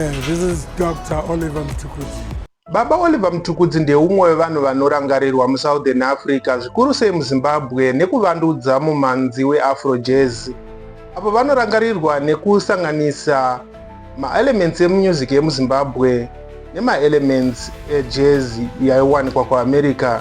This is Dr. Oliver Mtukudzi. Baba Oliver Mtukudzi ndeumwe wevanhu vanorangarirwa muSouthern Africa, zvikuru sei muZimbabwe, nekuvandudza mumanzi weAfro Jazz. Apo vanorangarirwa nekusanganisa maelements emunyuziki yemuZimbabwe nemaelements ejazz yaiwanikwa kuAmerica.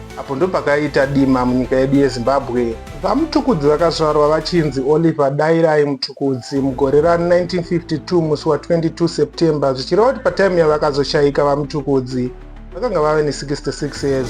Apo ndopakaita dima munyika yedu yeZimbabwe. VaMtukudzi vakazvarwa vachinzi Oliver Dairai Mtukudzi mugore ra 1952 musi wa 22 September zvichireva kuti pataimu yavakazoshaika VaMtukudzi vakanga vave ne 66 years.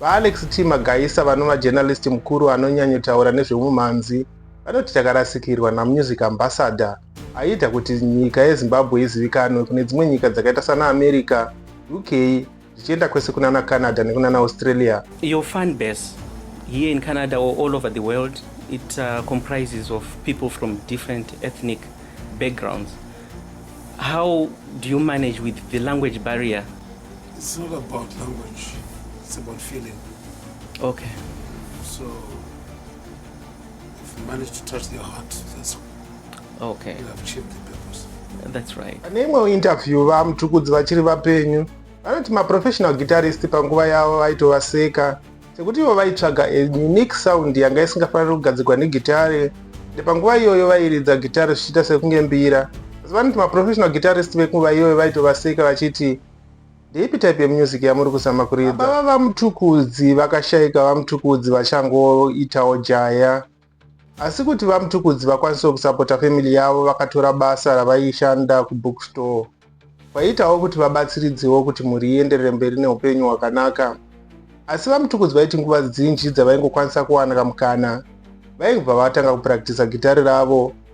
VaAlex T. Magaisa vanova journalist mukuru anonyanyotaura nezvehumhanzi vanoti takarasikirwa namusic ambassador aiita kuti nyika yeZimbabwe izivikanwe kune dzimwe nyika dzakaita sana America, UK zvichienda kwese kunana Canada nekunana Australia. Your fan base here in Canada or all over the world it uh, comprises of people from different ethnic backgrounds. How do you manage with the language barrier? It's not about language. It's about feeling. Okay. So, if you manage to touch their heart, that's okay. You have achieved the purpose. That's right. Pane imwewo interview vaMtukudzi vachiri vapenyu vanoti maprofessional guitarist panguva yavo vaitovaseka sekuti ivo vaitsvaga a unique sound yanga isingafaniri kugadzirwa negitare ende panguva iyoyo vairidza gitare zvichiita sekunge mbira asi vanoti maprofessional guitarist venguva iyoyo vaitovaseka vachiti ndeipi type yemusic yamuri kuzama kuridza baba vamutukudzi vakashaika vamutukudzi vachangoitawo jaya asi kuti vamutukudzi vakwanisewo kusapota family yavo vakatora basa ravaishanda kubookstore kwaiitawo kuti vabatsiridzewo kuti mhuri ienderere mberi neupenyu hwakanaka asi vamutukudzi vaiti nguva dzinji dzavaingokwanisa kuwana kamukana vaingobva vatanga kupractisa gitari ravo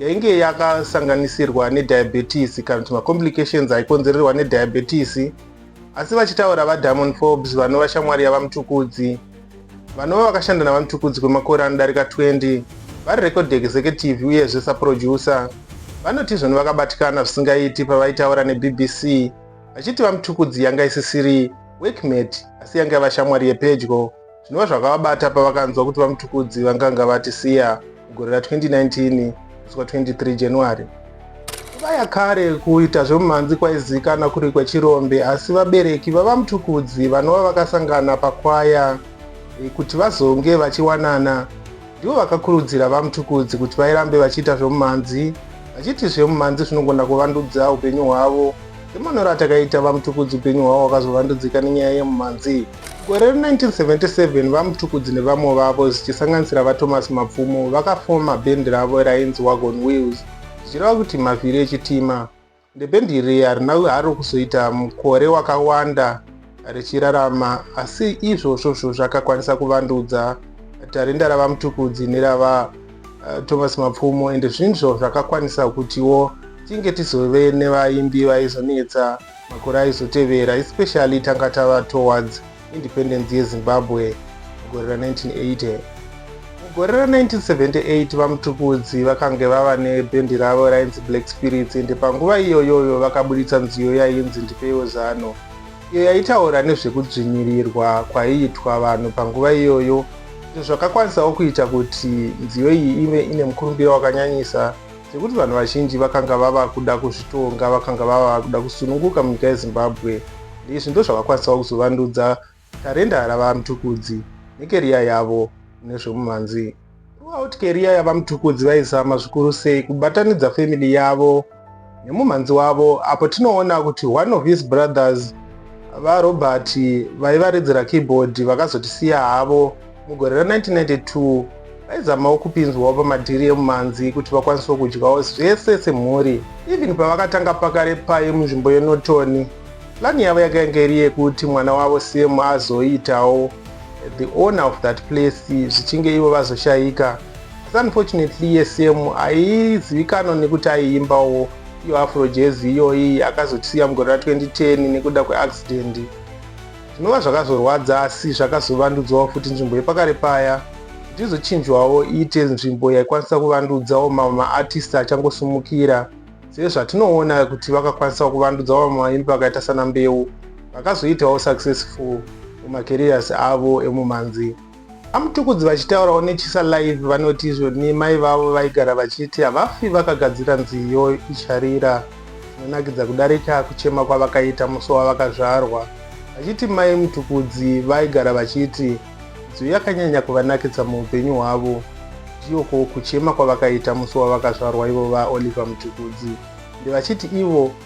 yainge yakasanganisirwa nediabetes kana kuti macomplications aikonzererwa nediabetes asi vachitaura vadiamond forbes vanova shamwari yavamutukudzi vanova vakashanda navamutukudzi kwemakore anodarika 20 vari record executive uyezve saproducer vanoti izvoni vakabatikana zvisingaiti pavaitaura nebbc vachiti vamutukudzi yanga isisiri workmate asi yanga yava shamwari yepedyo Zvinova zvakavabata pavakanzwa kuti VaMtukudzi vanganga vatisiya mugore ra 2019 kusvika 23 January. Nguva yakare kuita zvemumhanzi kwaizikana kuri kwechirombe asi vabereki vaVaMtukudzi vanova vakasangana pakwaya eh, kuti vazonge vachiwanana ndivo vakakurudzira VaMtukudzi kuti vairambe vachiita zvemumhanzi vachiti zvemumhanzi zvinogona kuvandudza upenyu hwavo. Semanoro atakaita VaMtukudzi upenyu hwavo wakazovandudzika nenyaya yemumhanzi. Gore rino 1977 VaMtukudzi nevamwe vavo zvichisanganisira VaThomas Mapfumo vakafoma bhendi ravo rainzi Wagon Wheels zvichireva kuti mavhiri echitima. Ndebhendi iri harina haro kuzoita mukore wakawanda richirarama asi izvozvozvo zvakakwanisa kuvandudza tarinda raVaMtukudzi nerava eh, Thomas Mapfumo ende zvinzvo zvakakwanisa kutiwo tinge tizove nevaimbi vaizonetsa Makore aizotevera, especially tanga tava towards independence yeZimbabwe mugore ra 1980. Mugore ra 1978 VaMtukudzi vakange vava nebhendi ravo rainzi Black Spirits ende panguva iyoyoyo vakaburitsa nziyo yainzi Ndipeiwo Zano iyo yaitaura nezvekudzvinyirirwa kwaiitwa vanhu panguva iyoyo izvo zvakakwanisawo kuita kuti nziyo iyi ive ine mukurumbira wakanyanyisa Zvekuti vanhu vazhinji vakanga vava kuda kuzvitonga, vakanga vava kuda kusununguka munyika yeZimbabwe. Ndizvi ndozvavakwanisawo kuzovandudza tarenda raVaMtukudzi nekeriya yavo mune zvemumhanzi. Throughout keriya yaVaMtukudzi vaizama zvikuru sei kubatanidza family yavo nemumhanzi wavo apo tinoona kuti one of his brothers, VaRobert, vaivaredzera keyboard vakazotisiya havo. Mugore ra 1992 vaizamawo kupinzwawo pamadhiri emumanzi kuti vakwanisewo kudyawo zvese semhuri. Even pavakatanga pakare paye munzvimbo yeNorton, plani yavo yaka yange iri yekuti mwana wavo Sam azoitawo the owner of that place zvichinge ivo vazoshaika. Asi unfortunately iye Sam aizivikanwa nekuti aiimbawo iyo afro jazz iyoyi akazotisiya mugore ra 2010 nekuda kweaccident. Zvinova zvakazorwadza asi zvakazovandudzwawo futi nzvimbo yepakare paya kuti izochinjwawo iite nzvimbo yaikwanisa kuvandudzawo mamwe maartist achangosumukira sezvatinoona kuti vakakwanisawo kuvandudza vamwe vaimbi vakaita sana mbeu vakazoitawo successful mumacareers avo emumhanzi Amutukudzi vachitaurawo neChisa Live vanoti izvo ni mai vavo vaigara vachiti havafi vakagadzira nziyo icharira zvinonakidza kudarika kuchema kwavakaita musi wavakazvarwa vachiti mai Mutukudzi vaigara vachiti nziyo yakanyanya kuvanakidza muupenyu hwavo ndiyo ko kuchema kwavakaita musi wavakazvarwa ivo vaOliver Mutukudzi ndevachiti ivo